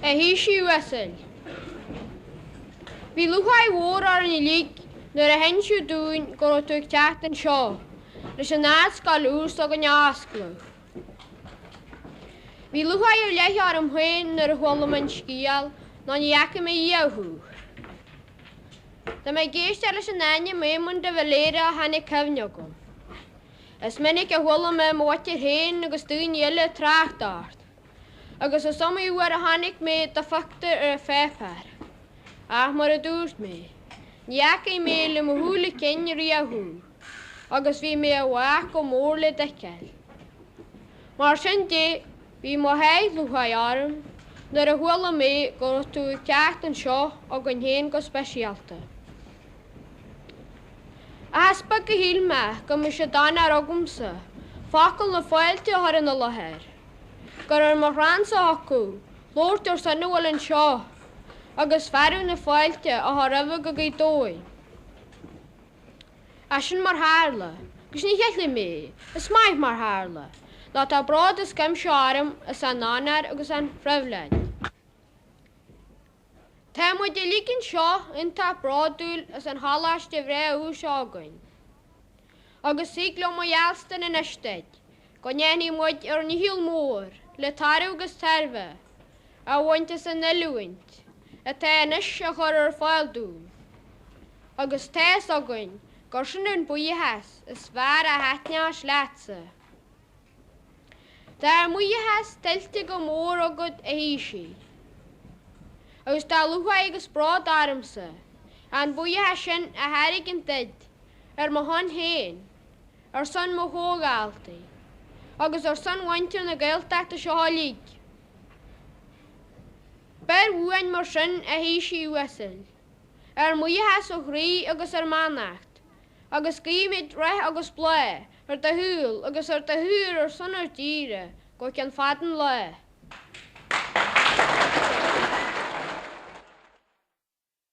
a Thaoisigh uasail. Bhí lúcháir mhór orainn uilig nuair a hinsíodh dúinn go raibh tú ag teacht anseo leis an Ardscoil úr s'againne a oscladh. Bhí lúcháir ar leith orm féin nuair a chuala mé an scéal, nó ní fhaca mé riamh thú. Tá mé ag éisteacht leis an ainm Éamonn de Valera ó tháinig cuimhne chugam, is minic a chuala mé mo mhuintir féin agus daoine eile ag trácht ort, agus is iomaí uair a chonaic mé do phictiúr ar an pháipéar, ach mar a dúirt mé, ní fhaca mé le mo shúile cinn riamh thú, agus bhí mé i bhfách go mór le d'fheiceáil. Mar sin de, Bhí mo sháith lúcháire orm nuair a chuala mé go raibh tú ag teacht anseo chugainn féin go speisialta. Ach is beag a shíl mé go mbeadh sé d'onóir agamsa focal na fáilte a chur ina láthair, gur ar mo chrannsa a thiocfadh labhairt ar son a bhfuil anseo agus fearadh na fáilte a chur roimhe go Gaoth Dobhair. Ach sin mar tharla, agus ní cheilfidh mé, is maith mar tharla, nó tá bród as cuimse orm as an onóir agus an phribhléid. Tá muid uilig anseo iontach bródúil as an choláiste bhreá úr s'againn, agus thig liom a gheallstan anois duit, go ndéanfaidh muid ár ndícheall mór le toradh agus tairbhe a bhaint as an oiliúint atá anois á cur ar fáil dúinn, agus tá fhios againn gur sin an buíochas is fearr a thaitneos leatsa. Tá ár mbuíochas tuillte go mór agat, a Thaoisigh, agus tá lúcháir agus bród ormsa an buíochas sin a thairgint duit ar mo shon féin. ar son mo chomhdhaltaí agus ar son mhuintir na Gaeltachta seo uilig. Beir uainn mar sin a Thaoisigh uasail, ár mbuíochas ó chroí agus ár mbeannacht, agus guímid rath agus bláth ar do shaol agus ar do shaothar ar son ár dtíre go ceann fada an lá.